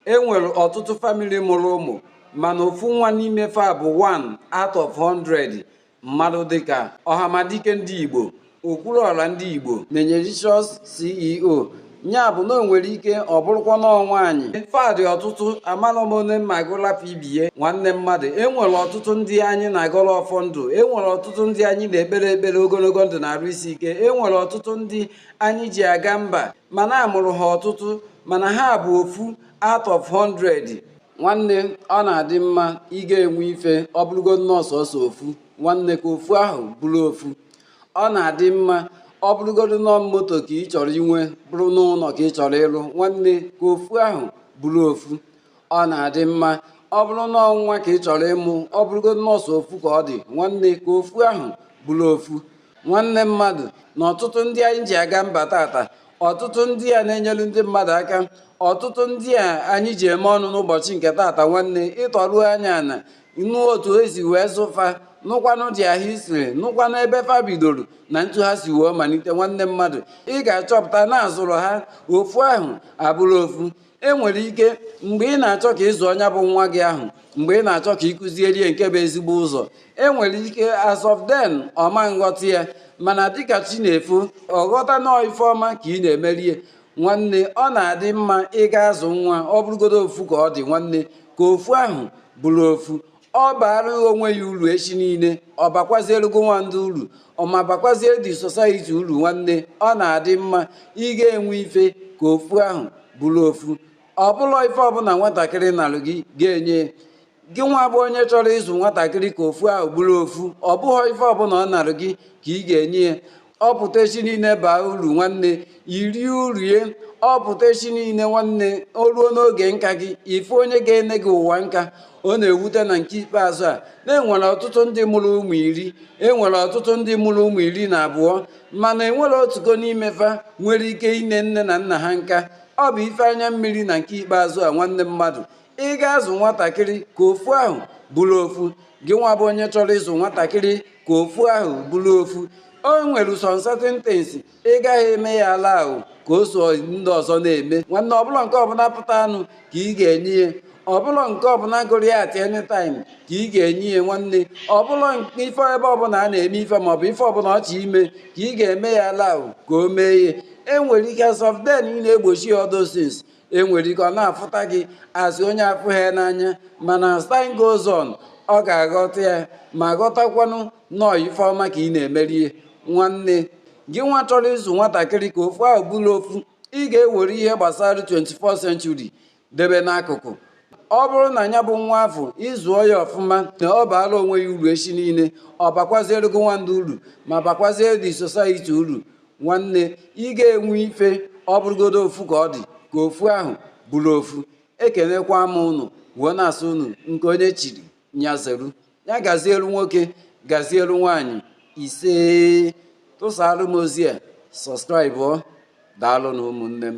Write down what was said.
e nwere ọtụtụ famili mụrụ ụmụ mana ofu nwa n'ime fa bụ 1 out of 100 mmadụ dịka ọhamadike ndị igbo okwuluọra ndị igbo menyericious ceo ya bụ na o nwere ike ọ bụrụkwa n'ọ nwaanyị fa dị ọtụtụ amara m onye m ma gụ lapụ ibe e nwanne mmadụ enwere ọtụtụ ndị anyị na-agọrọ ọfọ ndụ enwere ọtụtụ ndị anyị na-ekpere ekpere ogologo ndụ na arụ isi ike enwere ọtụtụ ndị anyị ji aga mba mana a mụrụ ha ọtụtụ mana ha bụ ofu out of 100 nwanne ọ na-adị mma ị ga-enwe ife ọ bụrụgodi n'ọọ sọọsọ ofu nwanne ka ofu ahụ bụrụ ofu ọ na-adị mma ọ bụrụgodo n'ọọ moto ka ị chọrọ inwe bụrụ n'ụnọ ka ị chọrọ ịrụ nwanne ka ofu ahụ bụrụ ofu ọ na-adị mma ọ bụrụ n'ọọ nwa ka ị chọrọ ịmụ ọ bụrụgodo n'ọọ sọ ofu ka ọ dị nwanne ka ofu ahụ bụrụ ofu nwanne mmadụ na ọtụtụ ndị anyị ji aga mba tata ọtụtụ ndị a na-enyelu ndị mmadụ aka ọtụtụ ndị a anyị ji eme ọnụ n'ụbọchị nke tata nwanne ị tọruo anya ana nụ otu e si wee zụ fa nụkwanụ dị ahụ isiri nụkwanụ ebe fa bidoro na etu ha si wee malite nwanne mmadụ ị ga-achọpụta na a zụrụ ha ofu ahụ abụrụ ofu e nwere ike mgbe ị na-achọ ka ị zụ onye bụ nwa gị ahụ mgbe ị na-achọ ka ị kuziere ya nke bụ ezigbo ụzọ e nwere ike as of then ọ ma nghọta ya mana dịka chi na-efo ọ ghọta n'ọọ ife ọma ka ị na-emere ya nwanne ọ na-adị mma ị ga-azụ nwa ọ bụrụgodo ofu ka ọ dị nwanne ka ofu ahụ bụrụ ofu ọ baara onwe ya uru echi niile ọ bakwaziere gị nwa ndị uru ọ ma bakwazie the society uru nwanne ọ na-adị mma ị ga-enwe ife ka ofu ahụ bụrụ ofu ọ bụlọ ife ọbụla nwatakịrị nalụ gị ị ga-enye gị nwa bụ onye chọrọ ịzụ nwatakịrị ka ofu ahụ bụrụ ofu ọ bụhọ ife ọbụla ọ nalụ gị ka ị ga-enye ya ọ pụta echi niile baa uru nwanne i rie uru ya ọ pụta echi niile nwanne o ruo n'oge nka gị ị fụ onye ga-ene gị nwa nka ọ na-ewute na nke ikpeazụ a na e nwere ọtụtụ ndị mụrụ ụmụ iri enwere ọtụtụ ndị mụrụ ụmụ iri na abụọ mana enwere otugo n'ime fa nwere ike ine nne na nna ha nka ọ bụ ife anya mmiri na nke ikpeazụ a nwanne mmadụ ị ga-azụ nwatakịrị ka ofu ahụ bụrụ ofu gị nwa bụ onye chọrọ ịzụ nwatakịrị ka ofu ahụ bụrụ ofu o nwere some certain things ị gaghị eme ya allow ka o so ndị ọzọ na-eme nwanne ọ bụlọ nke ọbụla pụtanụ ka ị ga-enye ya ọ bụlọ nke ọbụla gụrụ ya at any time ka ị ga-enye ya nwanne ọ bụlọ ife ebe ọbụla a na-eme ife maọbụ ife ọbụla ọ chọ ime ka ị ga-eme ya allow ka o mee ihe enwere ike as of then ị na-egbochi ya all those things enwere ike ọ na-afụta gị as onye afụhọ ya n'anya mana as time goes on ọ ga-aghọta ya ma ghọtakwanụ na ọ ife ọma ka ị na-emeri ye nwanne gị nwa chọrọ ịzụ nwatakịrị ka ofu ahụ bụrụ ofu ị ga-ewere ihe gbasara 21st century debe n'akụkụ ọ bụrụ na ya bụ nwa afụ ị zụọ ya ọfụma na ọ baara onwe ya uru echi niile ọ bakwaziere gị nwandụ uru ma bakwaziere the society uru nwanne ị ga-enwe ife ọ bụrụgodo ofu ka ọ dị ka ofu ahụ bụrụ ofu ekenekwa m ụnụ wee na-asị ụnụ nke onye chiri nya zeru ya gazielu nwoke gazielu nwaanyị isee tụsara m ozi a subscribe daalụnụ ụmụnne m